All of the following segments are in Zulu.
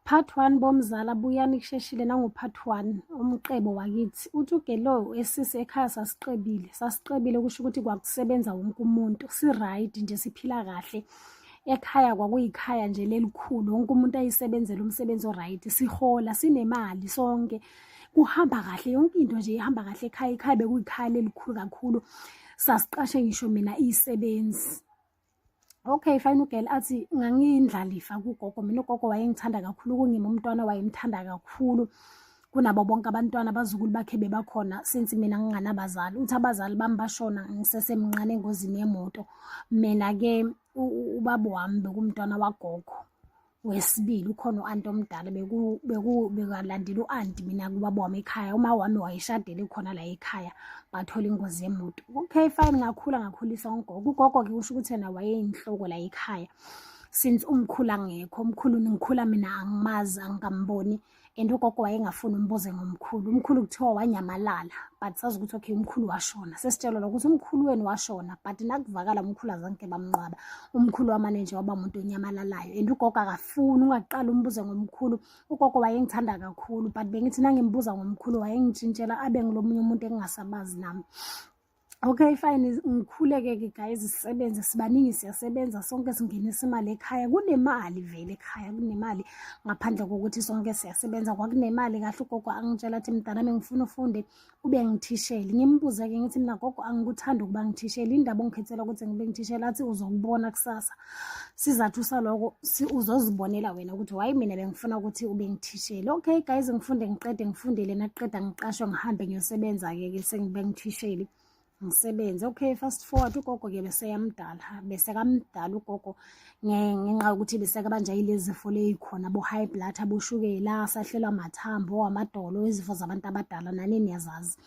Part 1 bomzala buyani kusheshile nangu part 1 umqebo wakithi uthi ugelo esisi ekhaya sasiqebile sasiqebile kusho ukuthi kwakusebenza wonke umuntu si right nje siphila kahle ekhaya kwakuyikhaya nje lelikhulu wonke umuntu ayisebenzela umsebenzi oright sihola sinemali sonke kuhamba kahle yonke into nje ihamba kahle ekhaya ikhaya bekuyikhaya lelikhulu kakhulu sasiqashe ngisho mina isebenzi okay fine ugirl athi ngangiyindlalifa kugogo mina ugogo wayengithanda kakhulu kungima umntwana wayemthanda kakhulu kunabo bonke abantwana abazukulu bakhe bebakhona since mina nginganabazali uthi abazali bami bashona ngisesemncane engozini yemoto mina-ke ubaba wami bekumntwana wagogo wesibili ukhona u-anti omdala bekalandela u-anti mina kubaba wami ekhaya uma wami wayeshadele khona la ekhaya bathola ingozi yemoto okay fine ngakhula ngakhulisa ugogo ugogo-ke kusho ukuthi yena wayeyinhloko la ekhaya since umkhulu angekho umkhulu ngikhula mina angimazi angikamboni um and ugogo wayengafuni umbuze ngomkhulu umkhulu kuthiwa wanyamalala but sazi ukuthi okay umkhulu washona sesitshelwa lokuthi umkhulu wenu washona but nakuvakala umkhulu azange bamnqwaba umkhulu wamane nje waba umuntu onyamalalayo and ugogo akafuni ungaqala umbuze ngomkhulu ugogo wayengithanda kakhulu but bengithi nangimbuza ngomkhulu wayengitshintshela abe ngilomunye umuntu engingasabazi nami Okay fine ngikhuleke ke guys sisebenze sibaningi siyasebenza sonke singenisa imali ekhaya kunemali vele ekhaya kunemali ngaphandle kokuthi sonke siyasebenza kwakunemali kahle ugogo angitshela athi mntana mina ngifuna ufunde ube ngithishele ngimbuze ke ngithi mina gogo angikuthanda ukuba ngithishele indaba ongikhethela ukuthi ngibe ngithishele athi uzokubona kusasa sizathu saloko uzozibonela wena ukuthi wayi mina bengifuna ukuthi ube ngithishele okay guys ngifunde ngiqede ngifundele nakuqeda ngiqashwe ngihambe ngiyosebenza-ke ke sengibe ngithishele ngisebenze okay fast forward ugogo ke beseyamdala besekamdala ugogo ngenxa yokuthi besekabanja yilezifo leyikhona bo-high blood aboshukela asahlelwa mathambo amadolo izifo zabantu abadala nani niyazazi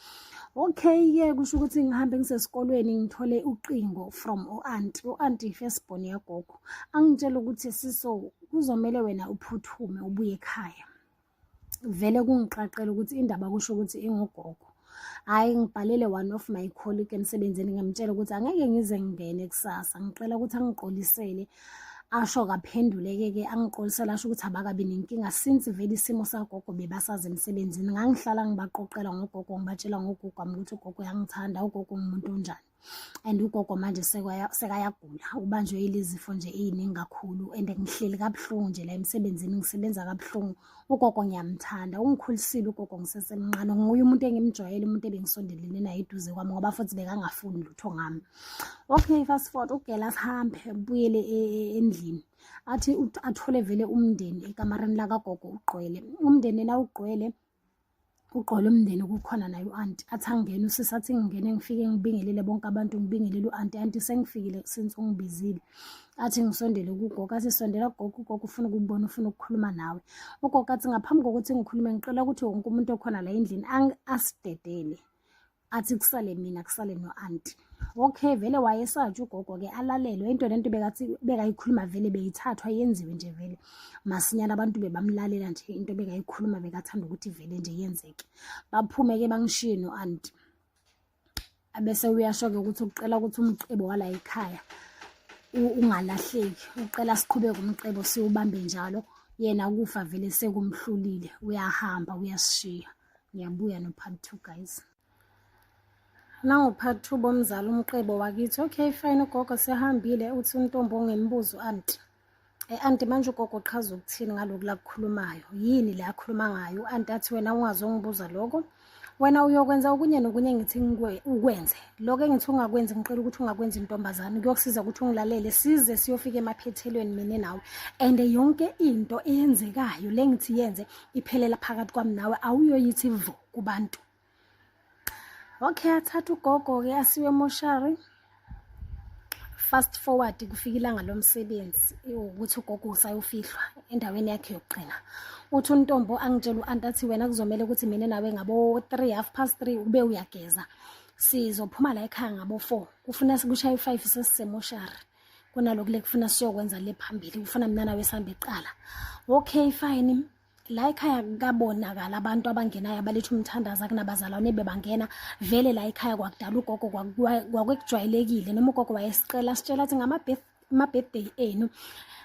okay ke kusho ukuthi ngihambe ngisesikolweni ngithole uqingo from u-aunt u-aunt i-firstborn yagogo angitshela ukuthi siso kuzomele wena uphuthume ubuye ekhaya vele kungiqaqela ukuthi indaba kusho ukuthi ingugogo hhayi ngibhalele one of my colleague emsebenzini ngamtshela ukuthi angeke ngize ngingene kusasa ngicela ukuthi angigqolisele asho kaphenduleke-ke angiqolisela asho ukuthi abakabi nenkinga since vele isimo sagogo bebasazi emsebenzini ngangihlala ngibaqoqela ngogogo ngibatshela ngogogo wami ukuthi ugogo uyangithanda ugogo ngumuntu onjani and ugogo manje sekayagula ubanjwe yilezifo nje ey'ningi kakhulu and ngihleli kabuhlungu nje la emsebenzini ngisebenza kabuhlungu ugogo ngiyamthanda ungikhulisile ugogo ngisesemncane nguye umuntu engimjwayele umuntu ebengisondelene naye eduze kwami ngoba futhi bekangafuni lutho ngami okay fast forward ugela asihambe buyele e, e, endlini athi athole vele umndeni ekamareni lakagogo ugqwele umndeni yena ugqwele uqola umndeni kukhona naye u-anti athi angene usisi athi ngingene ngifike ngibingelele bonke abantu ngibingelele u-anti anti sengifikile since ungibizile athi ngisondele kugogo athi sondela kugogo ugogo ufuna ukubona ufuna ukukhuluma nawe ugogo athi ngaphambi kokuthi ngikhulume ngicela ukuthi wonke umuntu okhona la endlini asidedele athi kusale mina kusale no-anti okay vele wayesatshe ugogo ke alalelwe into lento bekathi bekayikhuluma vele beyithathwa yenziwe nje vele masinyana abantu bebamlalela nje into bekayikhuluma bekathanda ukuthi vele nje yenzeke baphume ke bangishiye no-anti abese uyasho-ke ukuthi ukuqela ukuthi umcebo wala ekhaya ungalahleki uqela siqhubeke umcebo siwubambe njalo yena ukufa vele sekumhlulile uyahamba uyasishiya ngiyabuya no part two guys nango-part two bomzali umqebo wakithi okay fine ugogo sehambile uthi untombi ongembuzo anti e-anti eh, manje ugogo uqhaza ukuthini ngaloku lakukhulumayo yini le akhuluma ngayo u-anti athi wena ungazi ongibuza loko wena uyokwenza okunye nokunye ngithi ukwenze loko engithi ungakwenzi ngicela ukuthi ungakwenzi intombazane kuyokusiza ukuthi ungilalele size siyofika emaphethelweni mina nawe and yonke into eyenzekayo le ngithi yenze iphelela phakathi kwami nawe awuyoyithi vo kubantu okay athatha ugogo-ke asiwe emoshari fast forward kufika ilanga lomsebenzi ukuthi ugogo usayofihlwa endaweni yakhe yokugcina uthi untombo angitshela u-anti athi wena kuzomele ukuthi mina nawe ngabo-three half past three ube uyageza sizophuma la ekhaya ngabo-four kufuna kushaye u-five sesisemoshari kunalokhu lekufuna siyokwenza le phambili kufuna mina nawe sihambe kuqala okay fine la ekhaya kabonakala abantu abangenayo abaletha umthandazo akunabazalwane bebangena vele la ekhaya kwakudala ugogo kwakwekujwayelekile noma ugogo wayesiqela sitshela athi ngama-birthday enu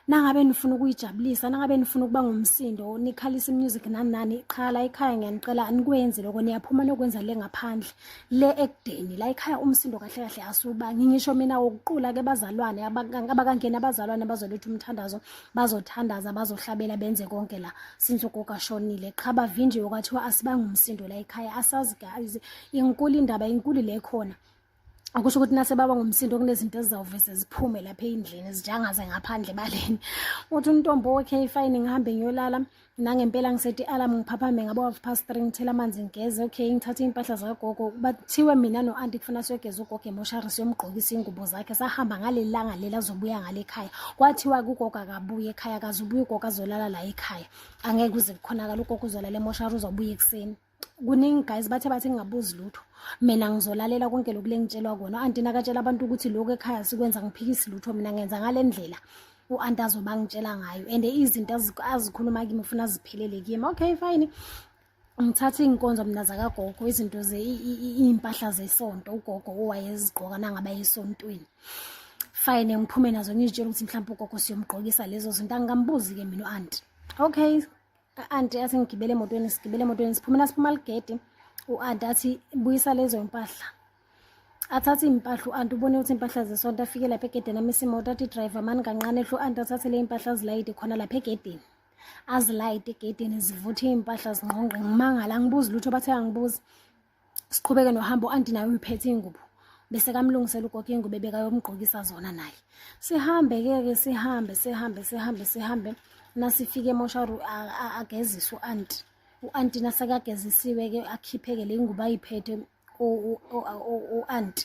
nangabe nifuna ukuyijabulisa nangabe nifuna ukuba ngumsindo nikhalisa imusic nani nani qha la ekhaya ngiyanicela anikwenzi loko niyaphuma nokwenza le ngaphandle le ekudeni la ekhaya umsindo kahle kahle asubangi ngisho mina wokuqula ke bazalwane abakangena abazalwane bazoletha umthandazo bazothandaza bazohlabela benze konke la since ugogo ashonile qha bavinjiwe kwathiwa asibangi umsindo la ekhaya asazi guys inkulu indaba inkulu le khona akusho ukuthi nase baba ngomsindo kunezinto ezizawuveze ziphume lapha eyindlini zijangaze ngaphandle baleni uthi untombo wekhe ifayini ngihambe ngiyolala nangempela ngisethi alarm ngiphaphame ngabo half past three ngithela amanzi ngigeze okay ngithathe iy'mpahla zikagogo bathiwe mina no-anti kufuna siyogeza ugogo emoshari siyomgqokisa iy'ngubo zakhe sahamba ngaleli langa leli azobuya ngale ekhaya kwathiwa kugogo akabuye ekhaya akaze ubuye ugogo azolala la ekhaya angeke uze kukhonakala ugogo uzolala emoshari uzobuya ekuseni kuningi guys bathe bathi ngingabuzi lutho mina ngizolalela konke lokhu lengitshelwa kona u-anti nakatshela abantu ukuthi lokhu ekhaya sikwenza ngiphikisi lutho mina ngenza ngale ndlela u-anti azoba ngitshela ngayo and izinto azikhuluma kimi ufuna ziphelele kimi okay fine ngithathe iy'nkonzo mina zakagogo izinto iy'mpahla zesonto ugogo owayezigqoka nangaba esontweni fine ngiphume nazo ngizitshela ukuthi mhlawumpe ugogo siyomgqokisa lezo zinto angikambuzi-ke mina u-anti okay anti athi ngigibele emotweni sigibele emotweni siphumela siphuma ligedi u-anti athi buyisa lezo mpahla athathe iy'mpahla u-anti ubone ukuthi iy'mpahla zesonto afike lapha egedeni amisa imoto athi driver mani kancane hlo u-anti athathe le y'mpahla azilayide khona lapha egedeni azilayide egedeni zivuthe iy'mpahla zingqongqe ngimangala angibuzi lutho bathe angibuzi siqhubeke nohambo anti naye uyiphethe ingubo bese kamlungisela ugogo ingubo ebekayomgqokisa zona naye sihambe ke ke sihambe sihambe sihambe sihambe nasifike emosharu ageziswe u-anti u-anti nasekagezisiwe ke akhipheke le ngubo ayiphethe u-anti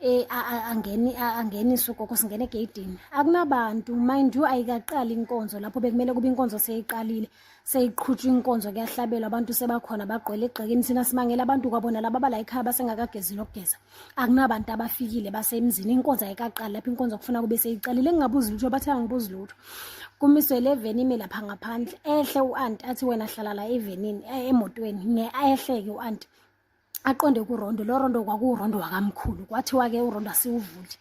eh angeni angenise ugogo singene egeyidini akunabantu mind you ayikaqali inkonzo lapho bekumele kube inkonzo seyiqalile seyiqhutshwa inkonzo kuyahlabelwa abantu sebakhona bagqwele egxekeni thina simangela abantu kwabona laba abala ekhaya basengakagezi lokugeza akunabantu abafikile basemzini inkonzo ayikaqali lapho inkonzo kufuna kube seyiqalile ngingabuzi lutho bathi angibuzi lutho kumiswe le veni ime lapha ngaphandle ehle u-anti athi wena hlala la evenini eh, emotweni nge ehleke u-anti aqonde kurondo lo rondo kwakuwurondo wakamkhulu kwathiwa-ke urondo asiwuvuli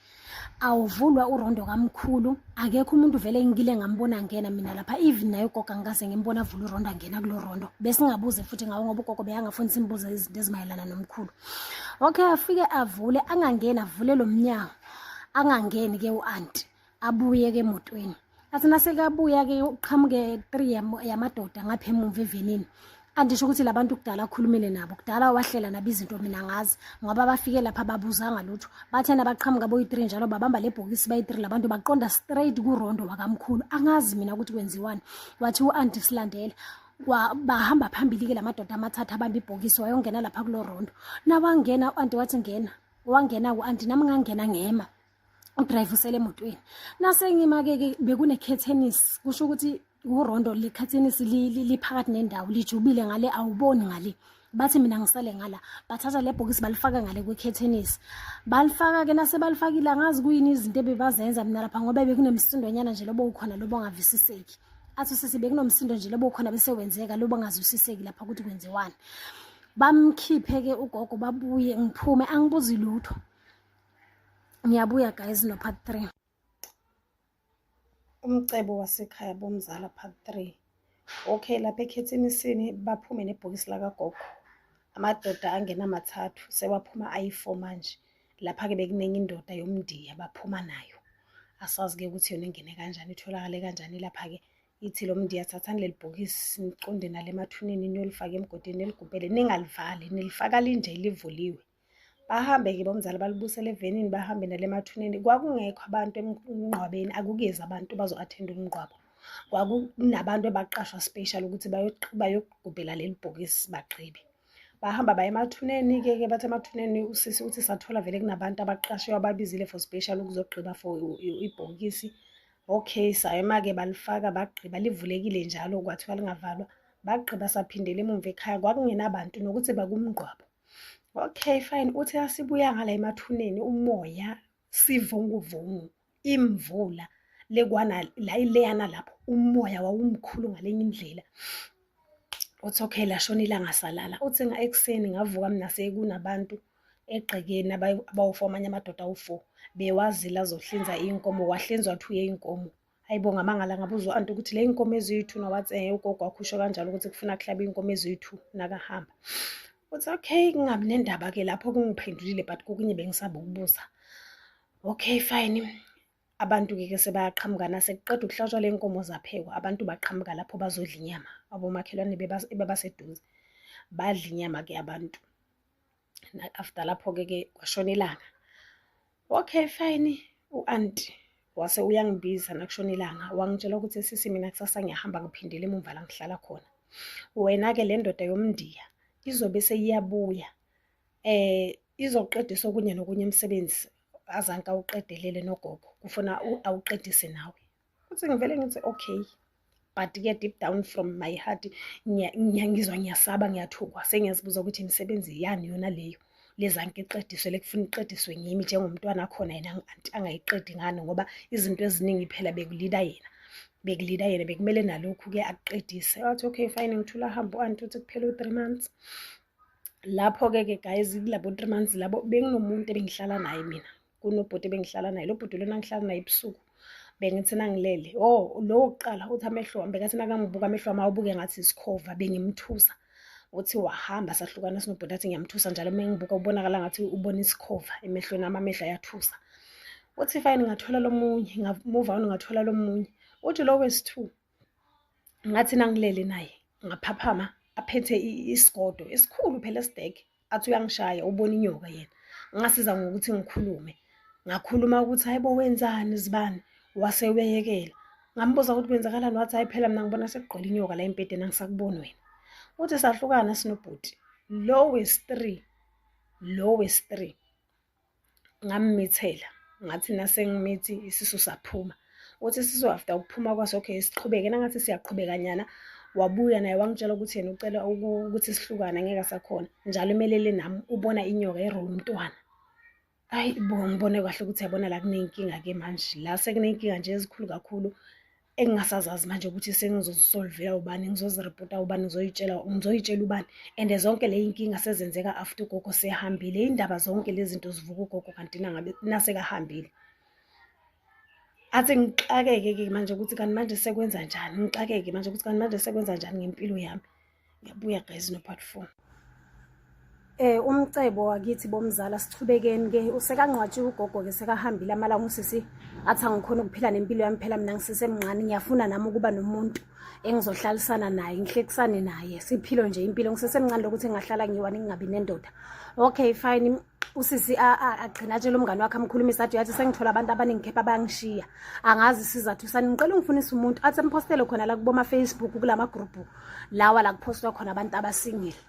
awuvulwa urondo kamkhulu akekho umuntu vele engile ngambona ngena mina lapha even naye ugoga ngikaze ngimbona avula urondo angena kulo rondo besingabuze futhi ngawo ngoba ugogo beyangafuni simbuze izinto ezimayelana nomkhulu okay afike avule angangeni avule lo mnyango angangeni-ke u-anti abuye ke emotweni athi nasekabuya ke uqhamuke three yamadoda ngapha emuva evenini andisho ukuthi labantu kudala akhulumile nabo kudala wahlela nabo izinto mina ngazi ngoba bafike lapha babuzanga lutho bathena baqhamuka boyi-three njalo babamba le bhokisi bayi-three labantu baqonda straight kurondo wakamkhulu angazi mina ukuthi kwenziwani wathi u-anti silandela bahamba phambili-ke la madoda amathathu abamba ibhokisi wayongena lapha kulo rondo nawangena u-anti wathi ngena wangena ku-anti nami ngangena ngema udrayive usele emotweni nasengimake-ke bekunekhethenisi kusho ukuthi urondo likhathenisi liphakathi nendawo lijubile ngale awuboni ngale bathi mina ngisale ngala bathatha le bhokisi balifaka ngale kwekhethenisi balifaka-ke nasebalifakile angazi kuyini izinto ebebazenza mina lapha ngoba bekunemsindonyana nje lobo ukhona lobo ongavisiseki athi usisi bekunomsindo nje lobo ukhona bese wenzeka lobo ongazwisiseki lapha ukuthi kwenziwani bamkhiphe-ke ugogo babuye ngiphume angibuzi lutho ngiyabuya guys no part 3 umcebo wasekhaya bomzala part 3 okay lapha ekhethini sini baphume nebhokisi lakagogo amadoda angena mathathu sewaphuma ayi-four manje lapha-ke bekuningi indoda yomndiya baphuma nayo asazi-ke ukuthi yona ingene kanjani itholakale kanjani lapha-ke ithi lo mndiya thathani leli bhokisi niqonde nale emathuneni niyolifaka emgodini niligubhele ningalivali nilifaka linje livuliwe bahambe-ke bomzali balibusele evenini bahambe nale mathuneni kwakungekho abantu emngqwabeni akukezi abantu bazo-athenda umngqwabo kwakunabantu ebaqashwa special ukuthi bayogubhela leli bhokisi bagqibe bahamba baye emathuneni-ke ke bathi emathuneni usisi uthi sathola vele kunabantu abaqashwe ababizile for special ukuzogqiba for ibhokisi okay sayema-ke balifaka bagqiba livulekile njalo kwathiwa lingavalwa bagqiba saphindela emumva ekhaya kwakungenabantu nokuthi bakumngqwabo okay fine uthi asibuya ngala emathuneni umoya sivunguvungu imvula lekwana la ileyana lapho umoya wawumkhulu ngalenye indlela uthi okay lashona ilanga salala uthi nga ekuseni ngavuka mina sekunabantu egqekeni abawu-four amanye amadoda awu-four bewazile azohlinza iy'nkomo wahlinzwa two yey'nkomo hayi bo ngamangala ngabuza u-anti ukuthi le inkomo eziyi-two nowathi um eh, ugogo wakhusho kanjalo ukuthi kufuna kuhlaba iy'nkomo eziyi-two nakahamba uthi okay kungabi nendaba-ke lapho kungiphendulile but kokunye bengisaba ukubuza okay fine abantu-ke ke sebeyaqhamukana sekuqeda ukuhlatshwa le nkomo zaphekwa abantu baqhamuka lapho bazodla inyama abomakhelwane bebaseduze badla inyama-ke abantu after lapho-ke ke kwashona ilanga okay fine u-anti wase uyangibiza nakushona ilanga wangitshela ukuthi sisi mina kusasa ngiyahamba ngiphindele emumva la ngihlala khona wena-ke le ndoda yomndiya izobe seyiyabuya um izoqedisa okunye nokunye emsebenzi azanke awuqedelele nogogo kufuna awuqedise nawe Uthi ngivele ngithi okay but ke deep down from my heart ngiyangizwa ngiyasaba ngiyathukwa sengiyazibuza ukuthi imisebenzi yani yona leyo lezanke iqediswe lekufuna iqediswe ngimi njengomntwana khona yena anti angayiqedi ngani ngoba izinto eziningi phela bekulida yena bekulida yena bekumele nalokhu ke akuqedise wathi okay fine ngithula hambo anti uthi kuphela u3 months lapho ke ke guys kulabo 3 months labo benginomuntu ebengihlala naye mina kunobhuti bengihlala naye lo bhuti lona ngihlala naye ebusuku bengithi nangilele o oh, lowo kuqala uthi amehlo wami bekathi nakangibuka amehlo wami awubuke ngathi isikhova bengimthusa uthi wahamba sahlukana sinobhuti athi ngiyamthusa njalo uma ngibuka ubonakala ngathi ubona isikhova emehlweni ami amehlo ayathusa uthi fine ngathola lomunye ngamuva on ngathola lomunye uthi lo wesi-two ngathi nangilele naye ngaphaphama aphethe isigodo esikhulu phela esidege athi uyangishaya ubona inyoka yena ngasiza ngokuthi ngikhulume ngakhuluma ukuthi hayibo wenzani zibani wase uyeyekela ngambuza ukuthi kwenzakalani wathi hayi phela mina ngibona sekugqwele inyoka la embhedeni angisakuboni wena uthi sahlukana sinobhuti lowes three lowes three ngammithela ngathi nasengimethi isisu saphuma uthi isisu after ukuphuma kwaso okay siqhubeke nangathi siyaqhubeka nyana wabuya naye wangitshela ukuthi yena ucela ukuthi sihlukane ngeke sakhona njalo umelele nami ubona inyoka erola umntwana ayi bo ngibone kahle ukuthi yabona la kunenkinga-ke manje la sekunenkinga nje ezikhulu kakhulu engingasazazi manje ukuthi sengizozisolvela ubani ngizoziripota ubani ngizoyitshela ngizoyitshela ubani and zonke le inkinga sezenzeka after ugogo sehambile indaba zonke lezi zinto zivuka ugogo kanti nangabe nasekahambile athi ngixakeke-ke manje ukuthi kanti manje sekwenza njani ngixakeke manje ukuthi kanti manje sekwenza njani ngempilo yami ngiyabuya guys no part 4 Eh umcebo wakithi bomzala sichubekeni ke usekangqwatshe ugogo ke sekahambile amalanga usisi athi angikhona ukuphila nempilo yami phela mina ngisesemncane ngiyafuna nami ukuba nomuntu engizohlalisana naye ngihlekisane naye siphilo nje impilo ngisesemncane lokuthi ngahlala ngiwani ngingabi nendoda okay fine usisi agcina atshela umngane wakhe amkhulumisa athi yathi sengithola abantu abaningi kepha abangishiya angazi isizathu sani ngicela ungifunisa umuntu athi amphostele khona la kuboma-facebook kula magrupu lawa la kuphostwa khona abantu abasingile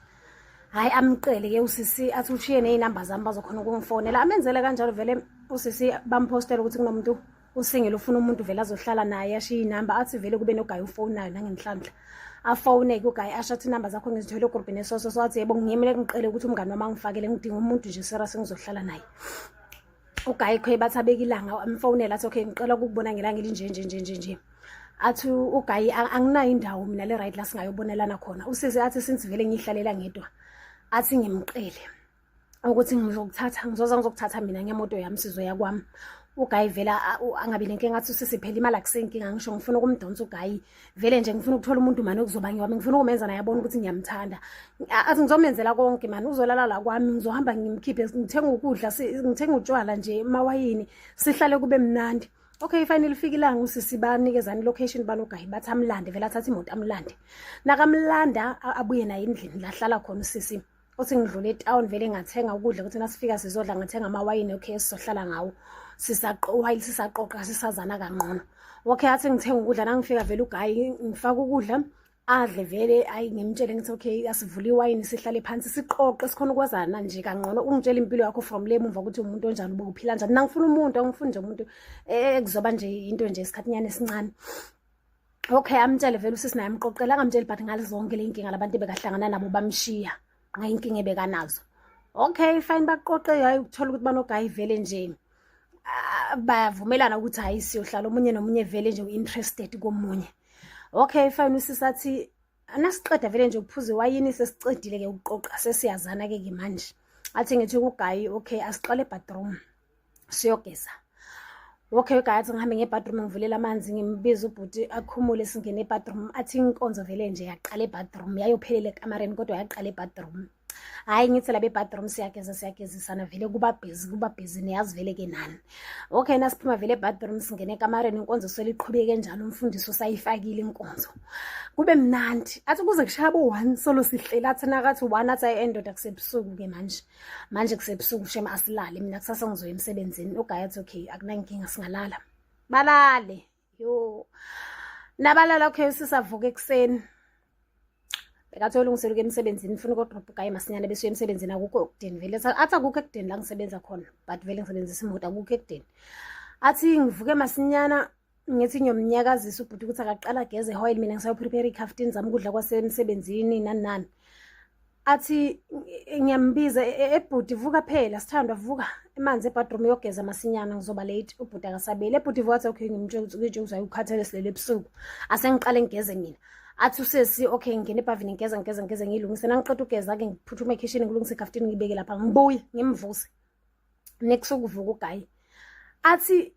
hhayi amqele ke usisi athi ushiye ney'namba zami bazokhona ukungifonela amenzele kanjalo vele usisi bamphostele ukuthi kunomuntu usingela ufuna umuntu vele azohlala naye ashiye inamba athi vele kube nogayi ufonayo nangenhlanhla afowune-ke ugayi asho athi inamba zakho ngizithole ogrubhini esoso so athi yebo ngiyemele kungiqele ukuthi umngane wami angifakele ngidinga umuntu nje sera sengizohlala naye ugayi khoye bathi abeke ilanga amfowunela athi okay ngicela ukukubona ngelanga elinje nje nje nje nje athi ugayi anginayo indawo mina le right la singayobonelana khona usize athi since vele ngiyihlalela ngedwa athi ngimqele ukuthi ngizokuthatha ngizoza ngizokuthatha mina ngemoto yami sizo yakwami ugayi vela angabi nenkinga athi usisi phela imali akusenkinga ngisho ngifuna ukumdonsa ugayi vele nje ngifuna ukuthola umuntu mani okuzoba ngiwami ngifuna ukumenza naye abone ukuthi ngiyamthanda athi ngizomenzela konke mani uzolala la kwami ngizohamba ngimkhiphe ngithenga ukudla ngithenga utshwala nje mawayini sihlale kube mnandi okay fine lifike ilanga usisi banikezani location banogayi bathi amlande vele athathe imoto amlande nakamlanda abuye naye endlini lahlala khona usisi uthi ngidlule etown vele ngathenga ukudla ukuthi nasifika sizodla ngathenga amawayini okay sizohlala ngawo sisaqowayile sisaqoqa sisazana kangqono okay athi ngithenga ukudla nangifika vele ugayi ngifaka ukudla adle vele ayi ngimtshele ngithi okay asivule iwayini sihlale phansi siqoqe sikhona ukwazana nje kangcono ungitshela impilo yakho from le mumva ukuthi umuntu onjani uba uphila njani nangifuna umuntu angifuni nje umuntu eh, ekuzoba nje into nje isikhathinyana esincane okay amtshele vele usisi naye amqoqela angamtsheli but ngalizonke le nkinga labantu ebekahlangana nabo bamshiya ngayinkinga ebekanazo okay fine baqoqe hayi ukuthola ukuthi banogayi vele nje ah, bayavumelana ukuthi hayi siyohlala omunye nomunye vele nje u-interested komunye okay fine usisi athi anasiqeda vele nje ukuphuza iwayini sesiqedile-ke ukuqoqa sesiyazana-ke ke manje athi ngithi kugayi okay asiqale ebadroom siyogeza okay guys ngihambe ngebadroom ngivulela amanzi ngimbiza ubhuti akhumule singene ebadroom athi inkonzo vele nje yaqala ebadroom yayophelela ekamareni kodwa yaqala ebadroom hhayi ngithi labe bathroom siyageza siyagezisana vele kuba bhizi kuba bhizi niyazi vele ke nani okay nasiphuma vele ebathroom singene ekamareni inkonzo seliqhubeke njalo umfundisi usayifakile inkonzo kube mnandi athi kuze kushaya bo-one solo sihlela athi nakathi one athi ayi endoda kusebusuku-ke manje manje kusebusuku shema asilale mina kusasa ngizoya emsebenzini ugaya athi okay akunankinga singalala balale yo nabalala okay sisavuka ekuseni bekathi olungiseluke emsebenzini funa ukodropha ugaye masinyane besuye emsebenzini akukho ekudeni vele athi akukho ekudeni la ngisebenza khona but vele ngisebenzisa imoto akukho ekudeni athi ngivuke masinyana ngithi ngiyomnyakazisa ubhuti ukuthi akaqala ageze ehoyile mina ngisayoprepare ikhaftini zami ukudla kwasemsebenzini nani nani athi ngiyambiza e, e, ebhuti vuka phela sithandwa vuka emanzi ebadroom yogeza masinyana ngizoba late ubhuti akasabeli ebhuti vuka athi okay ngimtshela ukuthi ukhathele silele ebusuku asengiqale ngigeze mina athi usesi okay ngingena ebhavini ngigeza ngigeza ngigeza ngiyilungise nangiqeda ugeza-ke ngiphuthume ekhishini ngilungise ikhaftini ngibeke lapha ngibuye ngimvuse next ukuvuka ugayi athi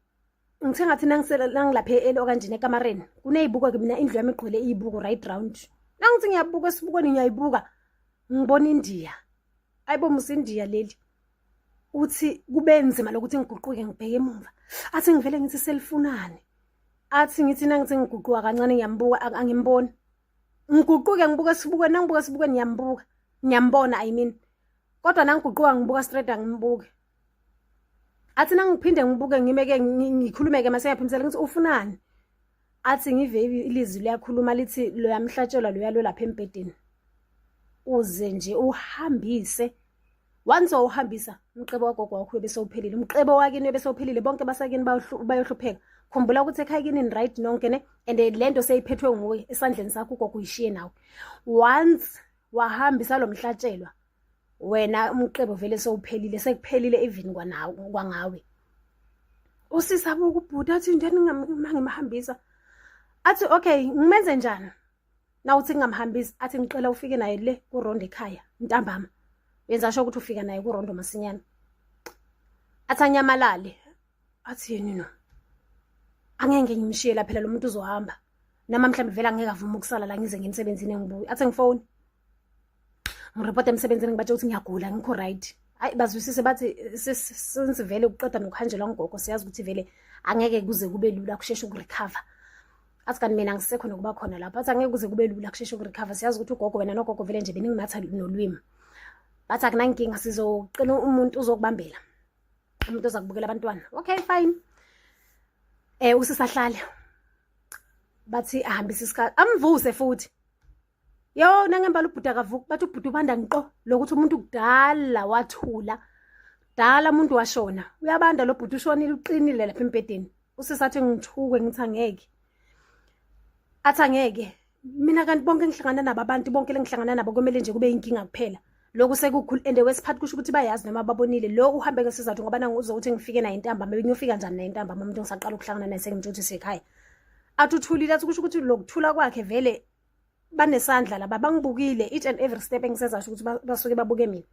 ngithe ngathi nangilapha e-eli okanjena ekamareni kuney'buko-ke mina indlu yami igqwele iy'buko right round nangithi ngiyabuka esibukweni ngiyayibuka ngibona indiya ayibo musa indiya leli uthi kube nzima lokuthi ngiguquke ngibheke emumva athi ngivele ngithi selifunani athi ngithi nangithi ngiguquka kancane ngiyambuka angimboni ngiguquke ngibuka esibukweni nangibuka esibukweni ngiyambuka ngiyambona i mean kodwa nangiguquka ngibuka straight angimbuki athi nangiphinde ngibuke ngimeke ngikhulumeke mase ngiyaphimisela ngithi ufunani athi ngive ilizwi liyakhuluma lithi loyamhlatshelwa loyalwe lapha embhedeni uze nje uhambise once wawuhambisa umqebo wagogo wakho bese uphelile umqebo wakini bese uphelile bonke basakini bayohlupheka khumbula ukuthi ekhaya kini right nonke ne and lento seyiphethwe nguwe esandleni sakho ugogo uyishiye nawe once wahambisa lo mhlatshelwa wena umqebo vele sowuphelile sekuphelile even kwanawe kwangawe usisi abuka ubhuti athi into eningimhambisa athi okay ngimenze njani na uthi ngingamhambisi athi ngicela ufike naye le kurondo ekhaya ntambama yenza sho ukuthi ufika naye kurondo masinyane athi anyamalale athi yini no angeke ngimshiye laphela lo muntu uzohamba nama mhlawumbe vele angeke avume ukusala la ngize ngemsebenzini engibuye athi ngifoni ngiripota emsebenzini ngibatshe ukuthi ngiyagula ngikho right ayi bazwisise bathi since vele kuqeda nokuhanjelwa ngugogo siyazi ukuthi vele angeke kuze kube lula kusheshe ukurecover athi kanti mina ngisekho nokuba khona lapho athi angeke kuze kube lula kusheshe ukurecover siyazi ukuthi ugogo wena nogogo vele nje beningimatha nolwimi bathi akunankinga sizoqina umuntu uzokubambela umuntu oza kubukela abantwana okay fine um usisahlale bathi ahambise isikhathi amvuse futhi yo nangembala ubhuti akavuki bathi ubhuti ubanda ngiqo lokuthi umuntu kudala wathula dala umuntu washona uyabanda lo bhuti ushonile uqinile lapha embhedeni usesathi ngithukwe ngithi angeke athi angeke mina kanti bonke engihlangana nabo abantu bonke lengihlangana nabo kumele nje kube inkinga kuphela lokhu sekukhulu and wesiphathi kusho ukuthi bayazi noma babonile lo uhambe ngesizathu ngoba nangu uzokuthi ngifike naye intambama benyofika njani naye intambama umuntu ngisaqala ukuhlangana naye sengimtsho ukuthi sekhaya athi uthulile athi kusho ukuthi lokuthula kwakhe vele banesandla laba bangibukile each and every step engisezasho ukuthi basuke babuke mina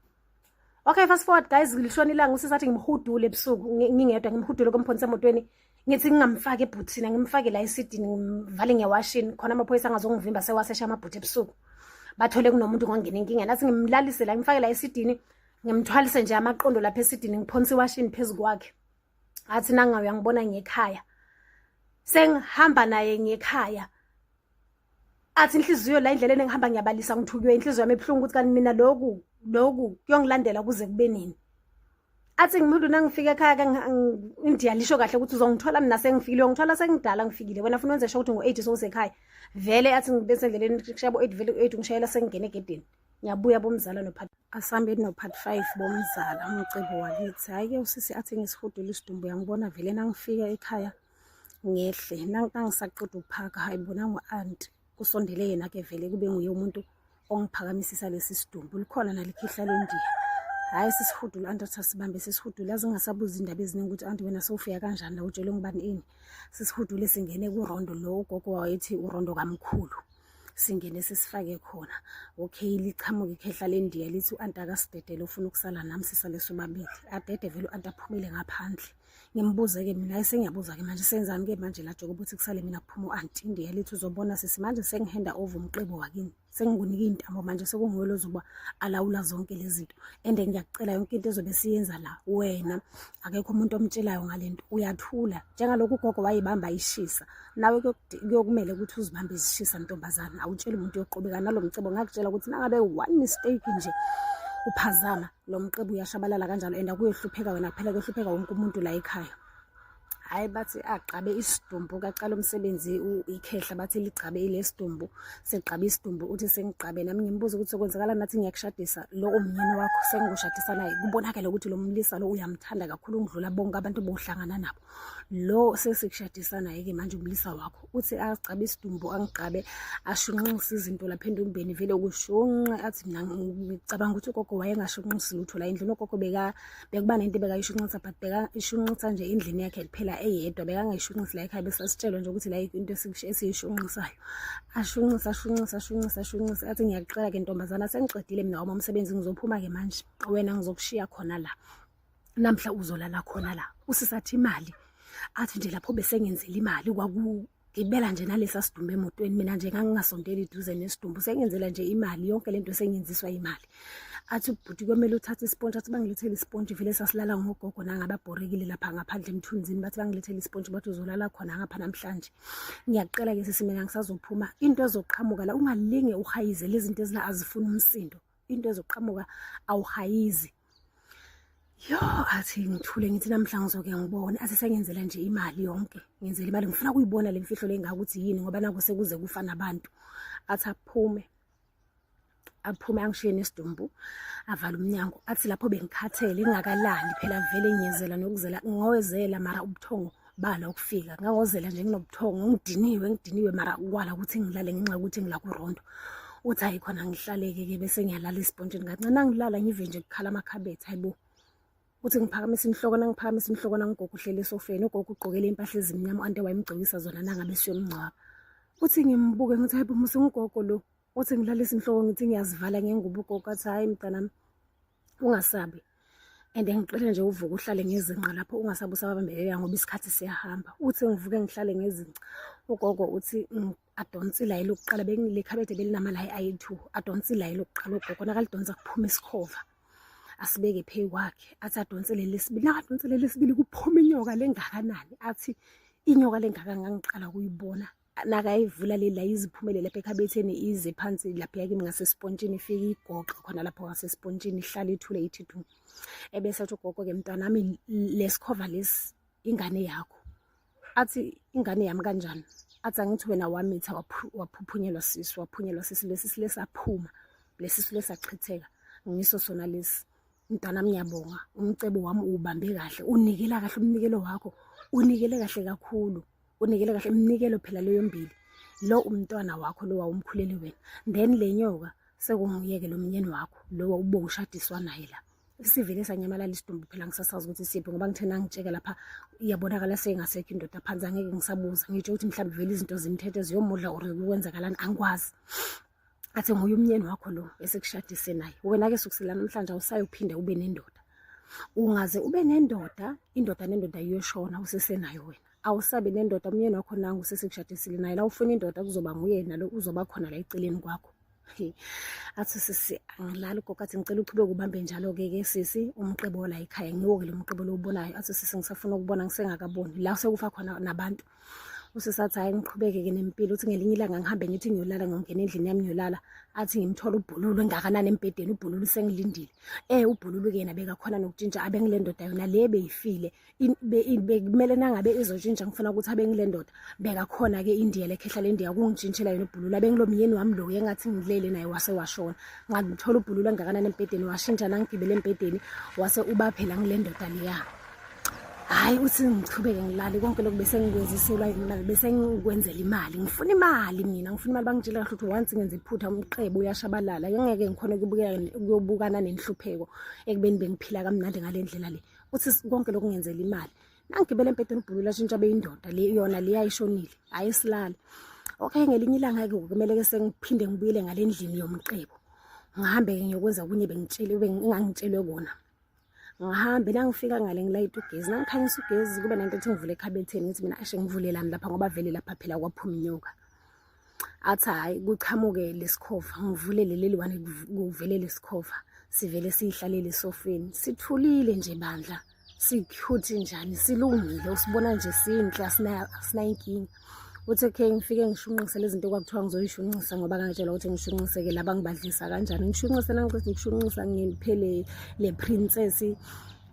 okay fast forward guys lishona ilanga usisathi ngimhudule ebusuku ngingedwa ngimhudule komphonisa emotweni ngithi ngingamfaki ebhuthini ngimfake la esidini ngimvale ngewashini khona amaphoyisa angazongivimba sewasesha amabhuthi ebusuku bathole kunomuntu ngongena inkinga nathi ngimlalise la ngimfake la esidini ngimthwalise nje amaqondo lapha esidini ngiphonsa iwashini phezu kwakhe athi nangayo uyangibona ngekhaya sengihamba naye ngekhaya athi inhliziyo la indlela engihamba ngiyabalisa ngithukiwe inhliziyo yami ebuhlungu ukuthi kanti mina loku loku kuyongilandela kuze kube nini athi ngimuntu nangifika ekhaya ke indiya lisho kahle ukuthi uzongithola mina sengifikile uyongithola sengidala ngifikile wena funa wenze sho ukuthi ngo-eight sowusekhaya vele athi ngibese endleleni shaya bo-eight vele u-eight ngishayela sengingena egedeni ngiyabuya bomzala nopart asihambeni nopart five bomzala umcebo wakithi hhayi-ke usisi athi ngisihudula isidumbu yangibona vele nangifika ekhaya ngehle nangisaqeda ukuphaka hayi bona ngu-anti kusondele yena ke vele kube nguye umuntu ongiphakamisisa lesi sidumbu likhona nalikhihla lendiya hhayi sisihudula anti athi asibambe sisihudule azingasabuzi indaba eziningi ukuthi anti wena sowufika kanjani la utshelwe ngubani ini sisihudule singene kurondo lo ugogo wayethi urondo kamkhulu singene sisifake khona okay liqhamuke ikhehla lendiya lithi u-anti akasidedele ufuna ukusala nami sisale sobabili adede vele u-anti aphumile ngaphandle ngimbuze-ke mina esengiyabuza-ke manje senzani-ke manje la joke ukuthi kusale mina kuphuma u-anti ndiye lithi uzobona sisi manje sengihenda over umqibo wakini sengikunike iy'ntambo manje sekunguwe lozoba alawula zonke lezi zinto and ngiyakucela yonke into ezobe siyenza la wena akekho umuntu omtshelayo ngale nto uyathula njengalokhu ugogo wayibamba ishisa nawe kuyokumele ukuthi uzibambe izishisa ntombazana awutsheli umuntu yoqhubeka nalo mcebo ngakutshela ukuthi nangabe one mistake nje uphazama lo mqebu uyashabalala kanjalo and akuyohlupheka wena kuphela kuyohlupheka wonke umuntu la ekhaya hhayi bathi agqabe isidumbu kaqala umsebenzi ikhehla bathi ligqabe ile sidumbu segqabe isidumbu uthi sengigqabe nami ngimbuza ukuthi sokwenzakala nathi ngiyakushadisa lo umyeni wakho sengikushadisa naye kubonakele ukuthi lo mlisa lo uyamthanda kakhulu ngidlula bonke abantu bohlangana nabo lo sesikushadisa naye-ke manje umlisa wakho uthi agcabe isidumbu angigcabe ashunqise izinto lapha entombeni vele kushunqe athi mina ngicabanga ukuthi ugogo wayengashunqisi lutho la endlini ugogo bekuba nento ebekayishunqisa but bekayishunqisa nje endlini yakhe kuphela eyedwa bekangayishunqisi la ekhaya besasitshelwa nje ukuthi la into esiyishunqisayo ashunqise ashunqise ashunqise ashunqise athi ngiyaqala-ke ntombazana sengiqedile mina wama umsebenzi ngizophuma-ke manje wena ngizokushiya khona la namhla uzolala khona la usisathi imali athi nje lapho besengenzela imali kwaku ngibela nje nalesa sidumbu emotweni mina nje ngangingasondeli duze nesidumbu sengenzela nje imali yonke lento sengenziswa imali athi ubhuti kwemele uthathe isponge athi bangilethele isponge vele sasilala ngogogo nangababhorekile lapha ngaphandle emthunzini bathi bangilethele isponge bathi uzolala khona ngapha namhlanje ngiyaqela ke sisi mina ngisazophuma into ezoqhamuka la ungalinge uhayize lezi zinto ezila azifuni umsindo into ezoqhamuka awuhayizi yo athi ngithule ngithi namhla ngizoke ngibone athi sengenzela nje imali yonke ngenzela imali ngifuna kuyibona le mfihlo le ngaka ukuthi yini ngoba naku sekuze kufa nabantu athi aphume aphume angishiye nesidumbu avala umnyango athi lapho bengikhathele ingakalali phela vele ngiyezela nokuzela ngoyezela mara ubuthongo bala ukufika ngawozela nje nginobuthongo ngidiniwe ngidiniwe mara kwala ukuthi ngilale ngenxa yokuthi ngila kurondo uthi hayi khona ngihlaleke-ke bese ngiyalala esibhontshini kancane nangilala ngive nje kukhala amakhabethe hayi bo uthi ngiphakamisa inhloko nangiphakamisa inhloko nangigogo uhlele esofeni ugogo ugqokele impahla ezimnyama ante wayemgcokisa zona nangabe siyomngcwaba uthi ngimbuke ngithi hayi bo musingugogo lo uthi ngilalisa inhloko ngithi ngiyazivala ngengubo ugogo athi hayi mntanami ungasabi and ngicela nje uvuke uhlale ngezinqa lapho ungasabi usababambelela ngoba isikhathi siyahamba uthi ngivuke ngihlale ngezinqa ugogo uthi mm, adonsi layi lokuqala bekulekhabethe belinamalayi ayi-two adonsi layi lokuqala ugogo nakalidonsa kuphume isikhova asibeke phezu kwakhe athi adonse leli sibili nakadonse leli sibili kuphuma inyoka lengakanani athi inyoka lengaka ngangiqala kuyibona nakayivula le la iziphumele lapha ekhabetheni ize phansi lapha yakimi ngasesipontshini ifike igoqe khona lapho ngasesipontshini ihlale ithule ithi du ebese athi ugogo ke mntanami lesikhova lesi ingane yakho athi ingane yami kanjani athi angithi wena wamitha waphuphunyelwa sisi waphunyelwa sisi lesi silesaphuma lesi silesachitheka ngiso sona lesi mntana ngiyabonga umcebo wami ubambe kahle unikela kahle umnikelo wakho unikele kahle kakhulu unikele kahle iminikelo phela leyo mbili lo umntwana wakho lo wawumkhuleli wena then le nyoka sekunguyeke lo mnyeni wakho lo wawube ushadiswa naye la sivele sanyamalala isidumbu phela ngisasazi ukuthi siphi ngoba ngithe nangitsheka lapha iyabonakala sengasekho indoda phansi angeke ngisabuza ngitsho ukuthi mhlawumbe vele izinto zimthethe ziyomudla or kwenzakalani angikwazi athi nguye umnyeni wakho lo esekushadise naye wena-ke sukusela namhlanje awusayophinde ube nendoda ungaze ube nendoda indoda nendoda iyoshona usesenayo wena awusabi nendoda umyeni wakho nangu usesekushadisile naye la ufuna indoda kuzoba nguye nalo uzoba khona la eceleni kwakho athi sisi angilali gogo athi ngicela uqhubeke ubambe njalo-ke ke sisi umqebo la ekhaya ngiwo-ke lo mqebo lowubonayo athi sisi ngisafuna ukubona ngisengakaboni la sekufa khona nabantu usisi athi hhayi ngiqhubeke-ke nempilo uthi ngelinye ilanga ngihambe ngithi ngiyolala ngiyongena endlini yami ngiyolala athi ngimthole ubhululu engakanani embhedeni ubhululu sengilindile um eh, ubhululu-ke yena bekakhona nokutshintsha abengile ndoda yona le beyifile bekumele nangabe izoshintsha ngifuna ukuthi abe ngile ndoda bekakhona ke indiya lekhehla lendiya kungitshintshela yona ubhulula bengilo myeni wami lo engathi ngilele naye wase washona ngangithola ubhulula ngakanani embhedeni washintsha nangigibele embhedeni wase uba phela ngile ndoda leya hayi uthi ngichubeke ngilale konke lokhu bese ngikwenziselwa imali bese ngikwenzela imali ngifuna imali mina ngifuna imali bangitshela kahle ukuthi once ngenza iphutha umqebo uyashabalala ngeke ngikhona ukuyobukana nenhlupheko ekubeni bengiphila kamnandi ngale ndlela le uthi konke lokhu ngenzela imali nangigibele empedeni ubhulula ashintsha beyindoda le yona le yayishonile hayi isilale okay ngelinye ilanga ke kumele ke sengiphinde ngibuyele ngalendlini yomqebo ngihambe ke ngiyokwenza kunye bengitshele bengangitshelwe kona ngihambe la ngifika ngale ngilayita ugezi nangikhanyisa ugezi kube nento ethi ngivule ekhabetheni ngithi mina ashe ngivulelani lapha ngoba vele lapha phela kwaphuma inyoka athi hhayi kuchamuke lesikhova ngivulele leli wane kuvele lesikhova sivele siyihlalele esofeni sithulile nje bandla sikhuthi njani silungile usibona nje sinhle asinayinkinga uthi okay ngifike ngishunqise lezi zinto kwakuthiwa ngizoyishunqisa ngoba ngangitshelwa ukuthi ngishunqiseke laba ngibadlisa kanjani ngishunqise nangiqeda ukushunqisa ngiphe le princess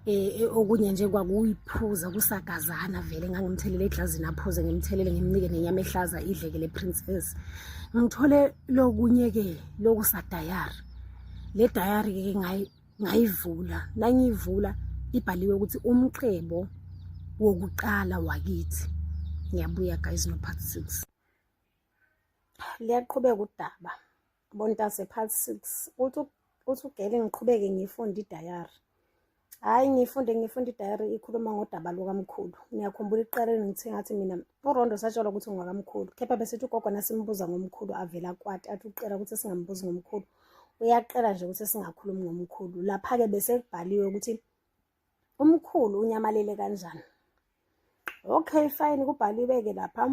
eh okunye nje kwakuyiphuza kusagazana vele ngangimthelele eglazini aphuze ngimthelele ngimnike nenyama ehlaza idleke le princess ngithole lokunye ke lokusa diary le diary ke ngayi ngayivula nangiyivula ibhaliwe ukuthi umqhebo wokuqala wakithi ngiyabuya guys no part 6 liyaqhubeka udaba Bontase part 6 uthi uthi ugele ngiqhubeke ngifunde idayari hhayi ngifunde ngifunde idayari ikhuluma ngodaba lukamkhulu ngiyakhumbula ekuqaleni ngithe ngathi mina urondo satshelwa ukuthi ungakamkhulu kepha besithi ugogo nasimbuza ngomkhulu avela kwati athi uqela ukuthi singambuzi ngomkhulu uyaqela nje ukuthi singakhulumi ngomkhulu lapha-ke besekubhaliwe ukuthi umkhulu unyamalele kanjani okay fine kubhaliwe ke lapha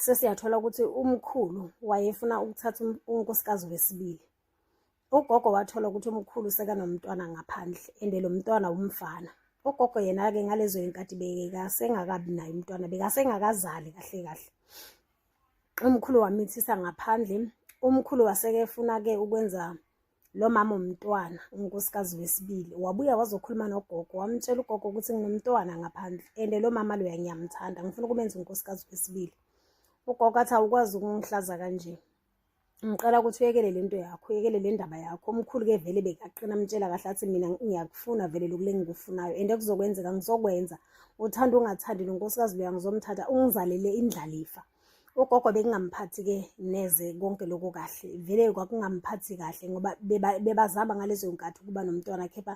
sesiyathola ukuthi umkhulu wayefuna ukuthatha um-, unkosikazi wesibili ugogo wathola ukuthi umkhulu sekanomntwana ngaphandle and lo mntwana wumfana ugogo yena-ke ngalezo yinkathi bekasengakabi naye umntwana bekasengakazali kahle kahle umkhulu wamithisa ngaphandle umkhulu waseke efuna-ke ukwenza lo mama umntwana unkosikazi wesibili wabuya wazokhuluma nogogo wamtshela ugogo ukuthi nginomntwana ngaphandle and lo mama loya ngiyamthanda ngifuna ukumenza unkosikazi wesibili ugogo athi awukwazi ukungihlaza kanje ngicela ukuthi uyekele le nto yakho uyekele le ndaba yakho omkhulu-ke vele bekaqina amtshela kahle athi mina ngiyakufuna vele lokule ngikufunayo and kuzokwenzeka ngizokwenza uthanda ungathandi nonkosikazi loya ngizomthatha ungizalele indlalifa ugogo bekungamphathi ke neze konke lokho kahle vele kwakungamphathi kahle ngoba bebazama ngalezo nkathi ukuba nomntwana kepha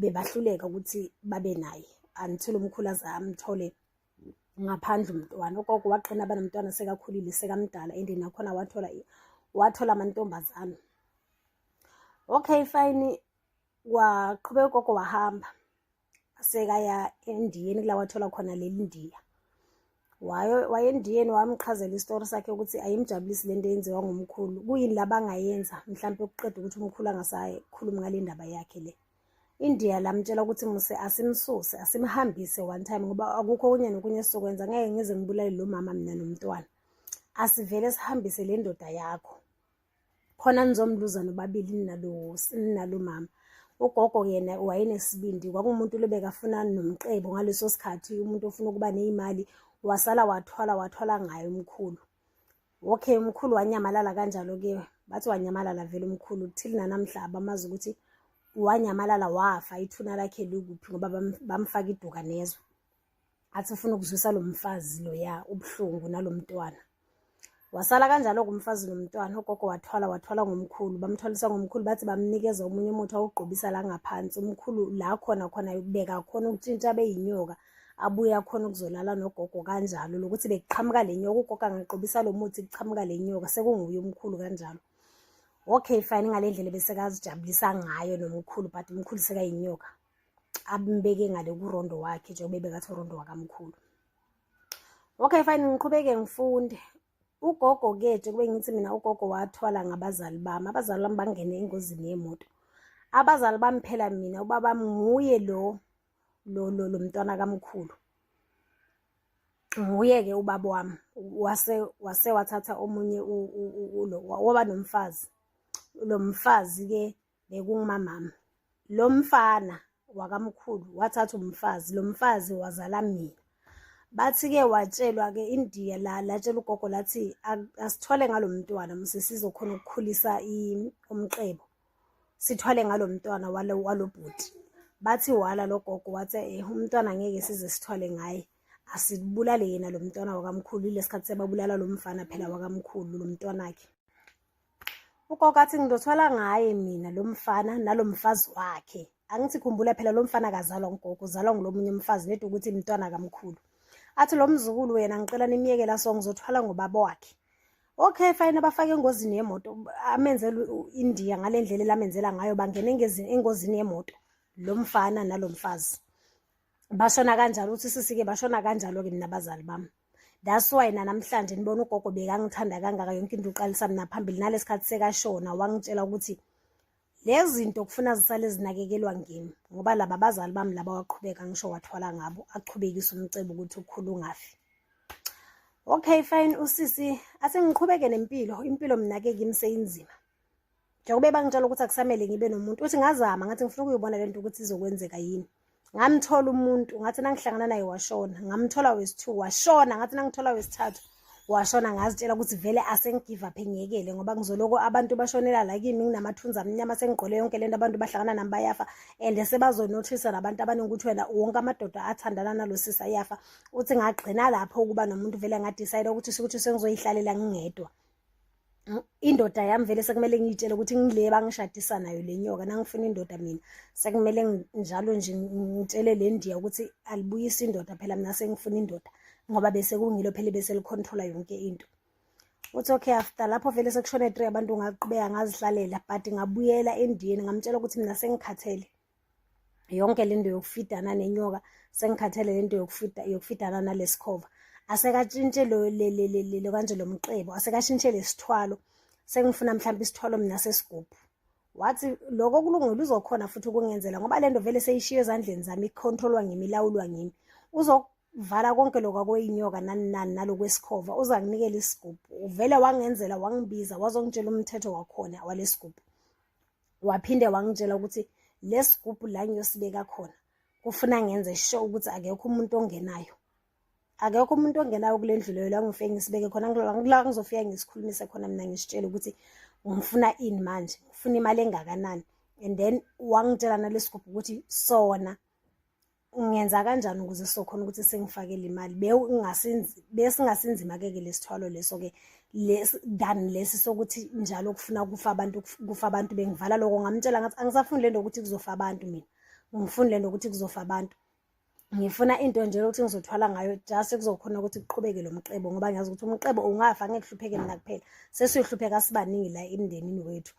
bebahluleka ukuthi babe naye until umkhulu aze amthole ngaphandle umntwana ugogo waqina abanomntwana sekakhulile sekamdala and nakhona wathola wathola amantombazane okay fine waqhubeka ugogo wahamba sekaya endiyeni kula wathola khona leli ndiya wayendiyeni wamchazela isitori sakhe ukuthi ayimjabulisi le nto eyenziwa ngumkhulu kuyini la bangayenza mhlawumpe ukuqeda ukuthi umkhulu angasakhulumi ngale ndaba yakhe le indiya lamtshela ukuthi muse asimsuse asimhambise one time ngoba akukho okunye nokunye esizokwenza ngeke ngize ngibulale lo mama mina nomntwana asivele sihambise le ndoda yakho khona nizomluza nobabili ninalo ninalo mama ugogo yena wayenesibindi kwakumuntu lobekafuna nomqebo ngaleso sikhathi umuntu ofuna ukuba neyimali wasala wathwala wathwala ngaye umkhulu okay umkhulu wanyamalala kanjalo ke bathi wanyamalala vele umkhulu kuthile nanamhla abamazi ukuthi wanyamalala wafa ithuna lakhe likuphi ngoba bamfaka iduka nezwe athi ufuna ukuzwisa lo mfazi loya ubuhlungu nalo mntwana wasala kanjalo-ke umfazi nomntwana ugogo wathwala wathwala ngomkhulu bamthwalisa ngomkhulu bathi bamnikeza omunye umuthi awugqobisa la ngaphansi umkhulu la khona khona yokubeka khona ukutshintsha beyinyoka abuye akhona ukuzolala nogogo kanjalo lokuthi bekuqhamuka le nyoka ugogo angaqobisa lo muthi kuqhamuka le nyoka sekunguye umkhulu kanjalo okay fine ngale ndlela besekazijabulisa ngayo nomkhulu but umkhulu sekayinyoka ambeke ngale kurondo wakhe njengoba ebekathi urondo wakamkhulu okay fine ngiqhubeke ngifunde ugogo ke njengoba ngithi mina ugogo wathwala ngabazali bami abazali bami bangene engozini yemoto abazali bami phela mina ubaba nguye lo lo lo lo mntwana kamkhulu nguye ke ubaba wami wase wase wathatha omunye lo waba nomfazi lo mfazi ke bekungumamama lo mfana wakamkhulu wathatha umfazi lo mfazi wazala mina bathi-ke watshelwa-ke indiya la latshela ugogo lathi asithwale ngalo mntwana mse sizokhona ukukhulisa umqebo sithwale ngalo mntwana walo bhuti bathi wala lo gogo wathi eh umntwana ngeke size sithwale ngaye asibulale yena lo mntwana wakamkhulu ilesikhathi sebabulala lo mfana phela wakamkhulu lo mntwanakhe ukokathi ngizothwala ngaye mina lo mfana nalo mfazi wakhe angithi khumbula phela lo mfana kazalwa ngugogo uzalwa ngulomunye umfazi nedi ukuthi mntwana kamkhulu athi lo mzukulu wena ngicela nimyeke la so ngizothwala ngobaba wakhe okay fine abafake engozini yemoto amenzela uIndia ngalendlela elamenzela ngayo bangena engozini yemoto lo mfana nalo mfazi bashona kanjalo uthi sisike bashona kanjalo-ke mina bazali bami that's why nanamhlanje nibona ugogo bekangithanda kangaka yonke into uqalisa mina phambili nalesi khathi sekashona wangitshela ukuthi lezi zinto kufuna zisale zinakekelwa ngimi ngoba laba bazali bami laba waqhubeka ngisho wathwala ngabo aqhubekise umcebo ukuthi ukhulu ungafi okay fine usisi asengiqhubeke nempilo impilo mina ke kimi seyinzima njengoba bangitshela ukuthi akusamele ngibe nomuntu uthi ngazama ngathi ngifuna ukuyibona lento ukuthi izokwenzeka yini ngamthola umuntu ngathi nangihlangana naye washona ngamthola wesithu washona ngathi nangithola wesithathu washona ngazitshela ukuthi vele asengigive up engiyekele ngoba ngizoloko abantu bashonela la kimi nginamathunzi amnyama sengigqole yonke lento abantu bahlangana nami bayafa and sebazonothisa nabantu abaningi ukuthi wena wonke amadoda athandana nalo sisi ayafa uthi ngagcina lapho ukuba nomuntu vele ngadicide ukuthi ukuthi sengizoyihlalela ngingedwa indoda yami vele sekumele ngiyitshele ukuthi ngile bangishadisa nayo le nyoka nangifuna indoda mina sekumele njalo nje ngitshele le ndiya ukuthi alibuyisi indoda phela mina sengifuna indoda ngoba bese kungilo phela bese licontrola yonke into uthi okay after lapho vele sekushone three abantu ngaqhubeka ngazihlalela but ngabuyela endiyeni ngamtshela ukuthi mina sengikhathele yonke le nto yokufidana nenyoka sengikhathele le nto yokufidana nalesikhova asekatshintshe lo kanje lo mqebo asekashintshe lesithwalo sengifuna mhlawumbe isithwalo mina sesigubhu wathi lokho kulungile uzokhona futhi ukungenzela ngoba le nto vele seyishiye ezandleni zami ikhontrolwa ngimi ilawulwa ngimi uzokuvala konke lokhu akweyinyoka nani nani nalokwesikhova uza kunikela isigubhu uvele wangenzela wangibiza wazongitshela umthetho wakhona walesigubhu waphinde wangitshela ukuthi lesigubhu la ngiyosibeka khona kufuna ngenze sure ukuthi akekho umuntu ongenayo akekho umuntu ongenayo kule ndlu leyo la ngifike ngisibeke khona ngila ngizofika ngisikhulumise khona mina ngisitshele ukuthi ngifuna ini manje ngifuna imali engakanani and then wangitshela nalesigubhu ukuthi sona ngenza kanjani ukuze sokhona ukuthi sengifakele imali besingasinzima keke lesithwalo leso ke than lesi sokuthi njalo kufuna kufa abantu kufa abantu bengivala lokho ngamtshela ngathi angisafuni lento ukuthi kuzofa abantu mina ngifuni lento ukuthi kuzofa abantu ngifuna into nje ukuthi ngizothwala ngayo just kuzokhona ukuthi kuqhubeke lo mqebo ngoba ngiyazi ukuthi umqebo ungafa ngeke kuhlupheke mina kuphela sesiyohlupheka sibaningi la emndenini wethu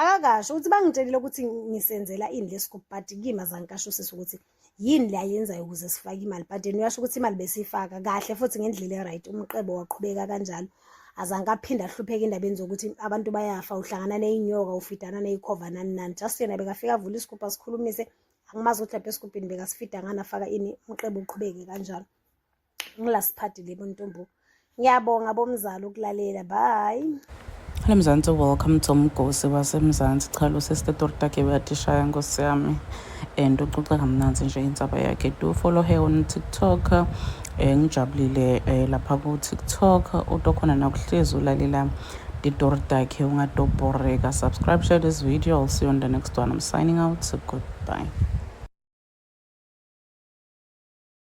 akakasho ukuthi bangitshelile ukuthi ngisenzela ini lesigubhu but kimi azangikasho usisi ukuthi yini le ayenzayo ukuze sifake imali but yena uyasho ukuthi imali besiyifaka kahle futhi ngendlela e-right umqebo waqhubeka kanjalo azange aphinde ahlupheke endabeni zokuthi abantu bayafa uhlangana neyinyoka ufidana neyikhova nani nani just yena bekafika avula isigubhu asikhulumise angimazi ukuthi lapha esigubhini bekasifida ngani afaka ini umqebo uqhubeke kanjalo ngilasiphathile buntombo ngiyabonga bomzali ukulalela bye Hello Mzansi, welcome to Mgosi waseMzansi. Cha lo sister Tortake uyatishaya nkosi yami and uxoxa kamnanzi nje insaba yakhe. Do follow her on TikTok. Eh ngijabulile eh, lapha ku TikTok utokhona nakuhlezi ulalela titortake ungadobhoreka. Subscribe, share this video. I'll see you on the next one. I'm signing out. So goodbye.